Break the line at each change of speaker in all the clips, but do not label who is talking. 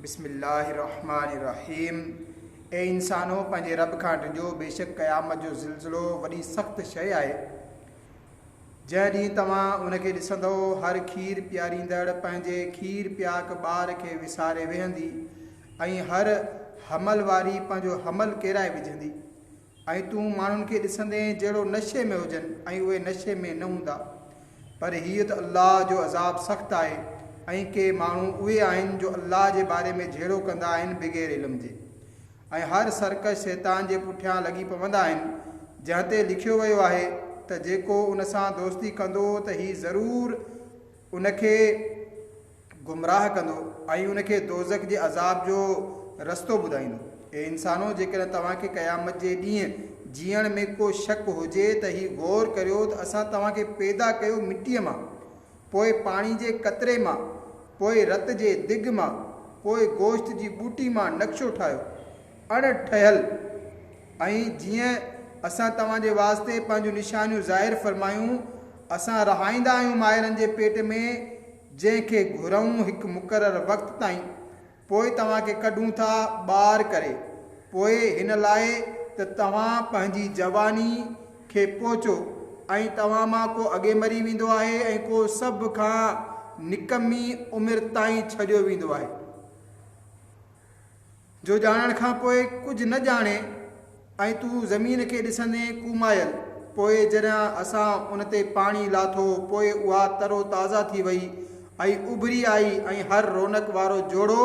بسم الله الرحمٰن الرحيم اي انسانو پنهنجي رب کان ڊڄو بيشڪ قيامت جو زلزلو وڏي سخت شيء آهي جنهن ڏينهن توهان ان کي ڏسندؤ هر کير پياريندڙ پنهنجي کير پياڪ ٻار کي وساري ويهندي ۽ هر حمل واري پنهنجو حمل ڪيرائي وجهندي ۽ تون ماڻهن کي ڏسندين جهڙو نشي ۾ هجن ۽ اهي نشي ۾ نه هوندا. پر هيء ته الله جو عذاب سخت آهي ۽ ڪي ماڻهو اهي آهن جو الله جي باري ۾ جهيڙو ڪندا آهن بغير علم جي ۽ هر سرڪش شيطان جي پٺيان لڳي پوندا آهن جنهن تي لکيو ويو آهي ته جيڪو ان سان دوستي ڪندو ته هي ضرور ان کي گمراهه ڪندو ۽ ان کي دوزخ جي عذاب جو رستو ٻڌائيندو. اي انسانو! جيڪڏهن توهان کي قيامت جي ڏينهن جيئڻ ۾ ڪو شڪ هجي ته هي غور ڪريو ته اسان توهان کي پيدا ڪيو مٽيء مان، پوء پاڻي جي قطري مان، پوء رت جي دڳ مان، پوء گوشت جي ٻوٽي مان نقشو ٺاهيو، اڻ ٺهيل، ۽ جيئن اسان توهان جي واسطي پنهنجون نشانيون ظاهر فرمايون، اسان رهائيندا آهيون مائرن جي پيٽ ۾، جنهن کي گهرئون هڪ مقرر وقت تائين، پوء توهان کي ڪڍون ٿا ٻاهر ڪري، پوء هن لاء ته توهان پنهنجي جواني کي پهچو، ۽ توهان مان ڪو اڳي مري ويندو آهي، ۽ ڪو سڀ کان نڪمي عمر تائين ڇڏيو ويندو آهي. جو ڄاڻڻ کان پوء ڪجهه نه ڄاڻين ۽ تون زمين کي ڏسندين ڪومايل، پوء جڏهن اسان ان تي پاڻي لاٿو پوء اها تر و تازه ٿي وئي ۽ اڀري آئي ۽ هر رونق وارو جوڙو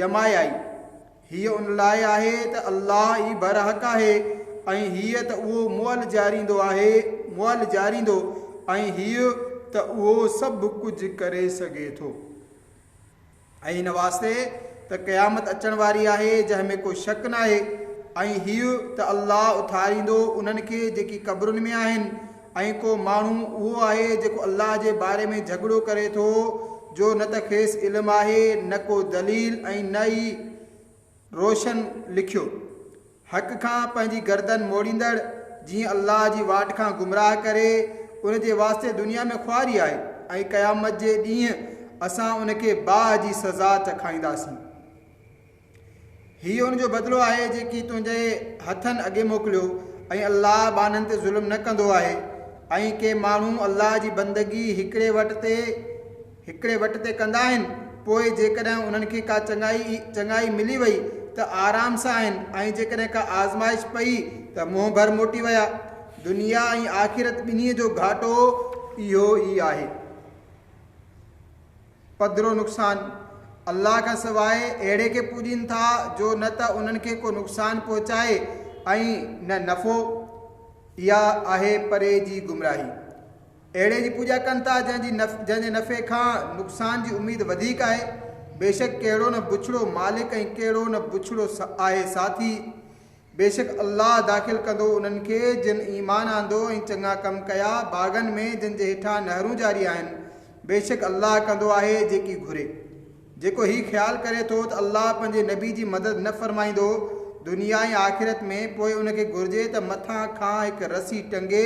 ڄمائي آئي. هيء ان لاء آهي ته الله ئي برحق آهي ۽ هيء ته اهو مئل جاريندو آهي، مئل جاريندو، ۽ هيء ته اهو سڀ ڪجهه ڪري سگهي ٿو. ۽ ان واسطي ته قيامت اچڻ واري آهي جنهن ۾ ڪو شڪ ناهي، ۽ هيء ته الله اٿاريندو انهن کي جيڪي قبرن ۾ آهن، ۽ ڪو ماڻهو اهو آهي جيڪو الله جي باري ۾ جهڳڙو ڪري ٿو جو نه ته کيس علم آهي نه ڪو دليل ۽ نه ئي روشن لکيو. حق کان پنهنجي گردن موڙيندڙ جيئن الله جي واٽ کان گمراهه ڪري ان جي واسطي دنيا ۾ خواري آهي ۽ قيامت جي ڏينهن اسان ان کي باهه جي سزا چکائينداسين هيء ان جو بدلو آهي جيڪي تنهنجي هٿن اڳي موڪليو ۽ الله ٻانهن تي ظلم نه ڪندو آهي ۽ ڪي ماڻهو الله جي بندگي هڪڙي وٽ تي هڪڙي وٽ تي ڪندا آهن، پوء جيڪڏهن انهن کي ڪا چڱائي چڱائي ملي وئي ته آرام سان آهن ۽ جيڪڏهن ڪا آزمائش پئي ته منهن ڀر موٽي ويا. دنيا ۽ آخرت ٻنهي جو گهاٽو اهو ئي آهي. پڌرو نقصان، الله کان سواء اهڙي کي پوڄين ٿا جو نه ته انهن کي ڪو نقصان پهچائي ۽ نه نفعو. اها آهي پري جي گمراهي. اهڙي جي پوڄا ڪن ٿا جنهن جي نف جنهن جي نفعي کان نقصان جي اميد وڌيڪ آهي. بيشڪ ڪهڙو نه بڇڙو مالڪ ۽ ڪهڙو نه بڇڙو سا آهي ساٿي. بيشڪ الله داخل ڪندو انهن کي جن ايمان آندو ۽ چڱا ڪم ڪيا، باغن ۾، جن جي هيٺان نهرون جاري آهن. بيشڪ الله ڪندو آهي جيڪي گهري. جيڪو هي خيال ڪري ٿو ته الله پنهنجي نبي جي مدد نه فرمائيندو دنيا ۽ آخرت ۾، پوء ان کي گهرجي ته مٿان کان هڪ رسي ٽنگي،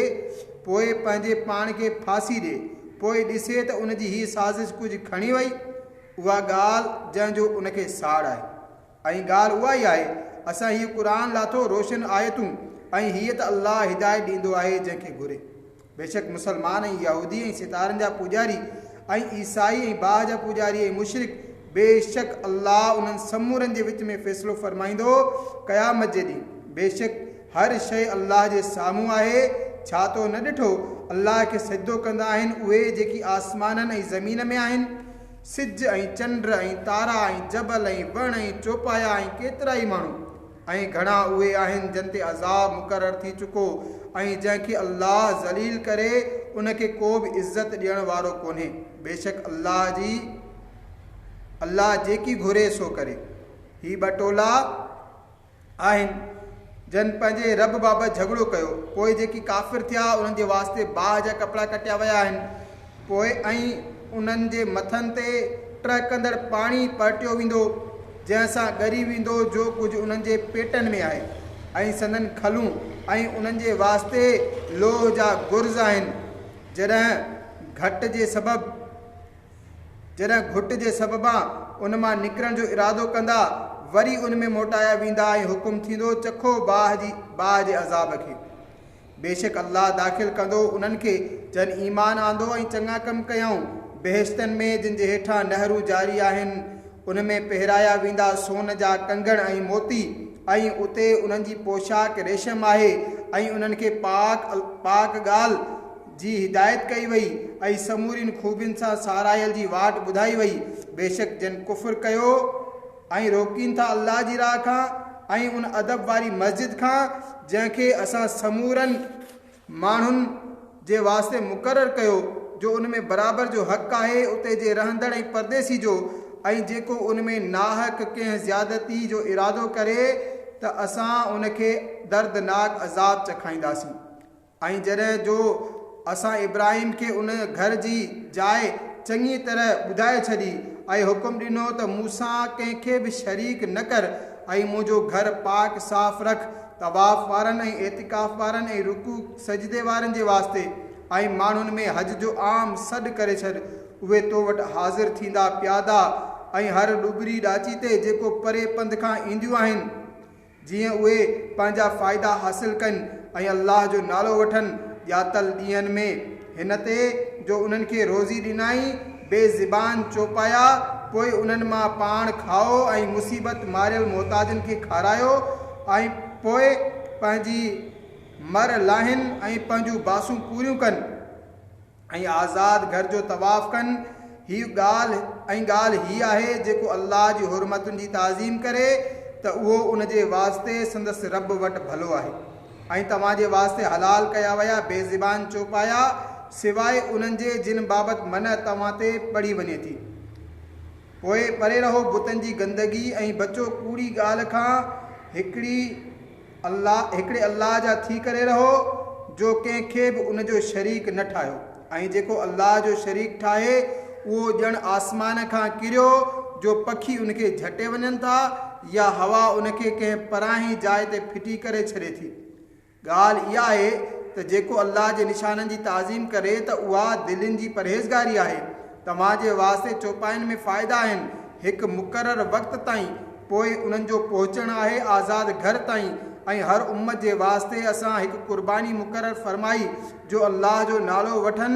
پوء پنهنجي پاڻ کي ڦاسي ڏي، پوء ڏسي ته ان جي هيء سازش ڪجهه کڻي وئي. اها ڳالهه جنهن جو ان کي ساڙ آهي. ۽ ڳالهه اها ئي آهي، اسان هيء قرآن لاٿو روشن آيتون، ۽ هيء ته الله هدايت ڏيندو آهي جنهن کي گهري. بيشڪ مسلمان ۽ يهودي ۽ ستارن جا پوڄاري ۽ عيسائي ۽ باهه جا پوڄاري ۽ مشرڪ بيشڪ الله انهن سمورن جي وچ ۾ فيصلو فرمائيندو قيامت جي ڏينهن بيشڪ هر شيء الله جي سامهون آهي ڇا تو نه ڏٺو الله کي سجدو ڪندا آهن اهي جيڪي آسمانن ۽ زمين ۾ آهن سج ۽ چنڊ ۽ تارا ۽ جبل ۽ وڻ ۽ چوپايا ۽ ڪيترائي ماڻهو ۽ گهڻا اهي آهن جن تي عذاب مقرر ٿي چڪو ۽ جنهن کي الله ذليل ڪري ان کي ڪو به عزت ڏيڻ وارو ڪونهي بيشڪ الله جي الله جيڪي گهري سو ڪري هي ٻه ٽولا آهن جن پنهنجي رب بابت جهڳڙو ڪيو پوء جيڪي ڪافر ٿيا انهن جي واسطي باهه جا ڪپڙا ڪٽيا ويا آهن پوء ائين انهن جي مٿن تي ٽهڪندڙ پاڻي پرٽيو ويندو، جنهن سان ڳري ويندو جو ڪجهه انهن جي پيٽن ۾ آهي ۽ سندن کلون ۽ انهن جي واسطي لوهه جا گرز آهن، جڏهن گهٽ جي سبب جڏهن گهٽ جي سببان ان مان نڪرڻ جو ارادو ڪندا، وري ان ۾ موٽايا ويندا ۽ حڪم ٿيندو چکو باهه جي باهه جي عذاب کي. بيشڪ الله داخل ڪندو انهن کي جن ايمان آندو ۽ چڱا ڪم ڪيائون، بهشتن ۾، جن جي هيٺان نهرون جاري آهن، ان ۾ پهرايا ويندا سون جا ڪنگڻ ۽ موتي، ۽ اتي انهن جي پوشاڪ ريشم آهي، ۽ انهن کي پاڪ، پاڪ ڳالهه، جي هدايت ڪئي وئي، ۽ سمورين خوبين سان ساراهيل جي واٽ ٻڌائي وئي، بيشڪ جن ڪفر ڪيو، ۽ روڪين ٿا الله جي راهه کان ۽ ان ادب واري مسجد کان جنهن کي اسان سمورن ماڻهن جي واسطي مقرر ڪيو جو ان ۾ برابر جو حق آهي اتي جي رهندڙ ۽ پرديسي جو ۽ جيڪو ان ۾ ناحق ڪنهن زيادتي جو ارادو ڪري ته اسان ان کي دردناڪ عذاب چکائينداسين. ۽ جڏهن جو اسان ابراهيم کي ان گهر جي جاء چڱيء طرح ٻڌائي ڇڏي، ۽ حڪم ڏنو ته مونسان ڪنهن کي به شريڪ نه ڪر، ۽ منهنجو گهر پاڪ صاف رک، طواف وارن ۽ اعتڪاف وارن ۽ رڪوع سجدي وارن جي واسطي، ۽ ماڻهن ۾ حج جو عام سڏ ڪري ڇڏ، اهي تو وٽ حاضر ٿيندا پيادا ۽ هر ڏوٻري ڏاچي تي، جيڪو پري پنڌ کان اينديون آهن. جيئن اهي پنهنجا فائدا حاصل ڪن ۽ الله جو نالو وٺن، ڄاتل ڏينهن ۾، هن تي جو انهن کي روزي ڏنائين، بي زبان چوپايا، پوء انهن مان پاڻ کائو ۽ مصيبت ماريل محتاجن کي کارايو ۽ پوء پنهنجي مھر لاهين ۽ پنهنجون باسون پوريون ڪن. ۽ آزاد گهر جو طواف ڪن، هي ڳالهه ۽ ڳالهه هي آهي جيڪو الله جي حرمتن جي تعظيم ڪري ته اهو ان جي واسطي سندس رب وٽ ڀلو آهي ۽ توهان جي واسطي حلال ڪيا ويا بي زبان چوپايا سواء انهن جي جن بابت منع توهان تي پڙهي وڃي ٿي پوء پري رهو بتن جي گندگي ۽ بچو ڪوڙي ڳالهه کان هڪڙي الله، هڪڙي الله جا ٿي ڪري رهو، جو ڪنهن کي به ان جو شريڪ نه ٺاهيو، ۽ جيڪو الله جو شريڪ ٺاهي، اهو ڄڻ آسمان کان ڪريو، جو پکي ان کي جهٽي وڃن ٿا، يا هوا ان کي ڪنهن پراهين جاء تي ڦٽي ڪري ڇڏي ٿي. ڳالهه اها آهي ته جيڪو الله جي نشانن جي تعظيم ڪري ته اها دلين جي پرهيزگاري آهي. توهان جي واسطي چوپاين ۾ فائدا آهن، هڪ مقرر وقت تائين. پوء انهن جو پهچڻ آهي آزاد گهر تائين ۽ هر امت جي واسطي اسان هڪ قرباني مقرر فرمائي جو الله جو نالو وٺن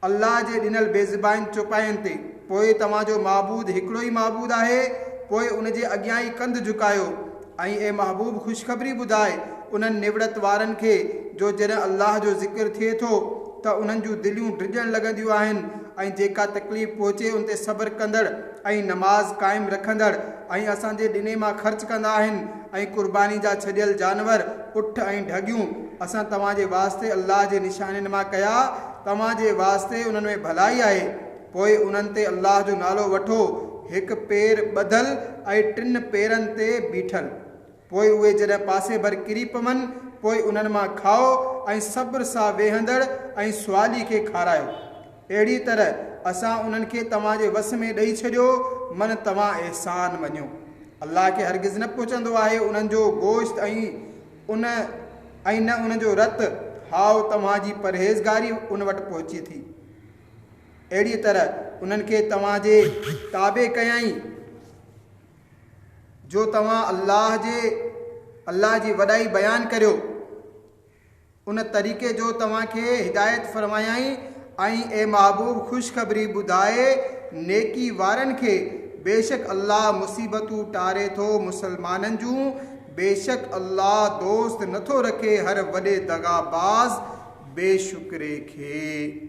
الله جي ڏنل بيضباين چوپاين تي پوء توهان جو معبود هڪڙو ئي معبود آهي پوء ان جي اڳيان ئي ڪنڌ جهڪايو ۽ اي محبوب خوشخبري ٻڌاء انهن نوڙت وارن کي جو جڏهن الله جو ذڪر ٿئي ٿو ته انهن جون دليون ڊڄڻ لڳنديون آهن ۽ جيڪا تڪليف پهچي ان تي صبر ڪندڙ ۽ نماز قائم رکندڙ ۽ اسان جي ڏني مان خرچ ڪندا آهن ۽ قرباني جا ڇڏيل جانور، اٺ ۽ ڍڳيون، اسان توهان جي واسطي الله جي نشانين مان ڪيا، توهان جي واسطي انهن ۾ ڀلائي آهي، پوء انهن تي الله جو نالو وٺو، هڪ پير ٻڌل ۽ ٽن پيرن تي بيٺل. پوء اهي جڏهن پاسي ڀر ڪري پون، پوء انهن مان کاء ۽ صبر سان ويهندڙ ۽ سوالي کي کارايو. اهڙيء طرح اسان انهن کي توهان جي وس ۾ ڏئي ڇڏيو، من توهان احسان مڃيو. الله کي هرگز نه پهچندو آهي انهن جو گوشت ۽ ۽ نه انهن جو رت، هائو، توهان جي پرهيزگاري ان وٽ پهچي ٿي. اهڙيء طرح انهن کي توهان جي تابع ڪيائين. جو توهان الله جي، الله جي، وڏائي بيان ڪريو، ان طريقي جو توهان کي هدايت فرمايائين ۽ اي محبوب خوشخبري ٻڌاء نيڪي وارن کي، بيشڪ الله مصيبتون ٽاري ٿو مسلمانن جون، بيشڪ الله دوست نٿو رکي هر وڏي دغاباز بي شڪري کي.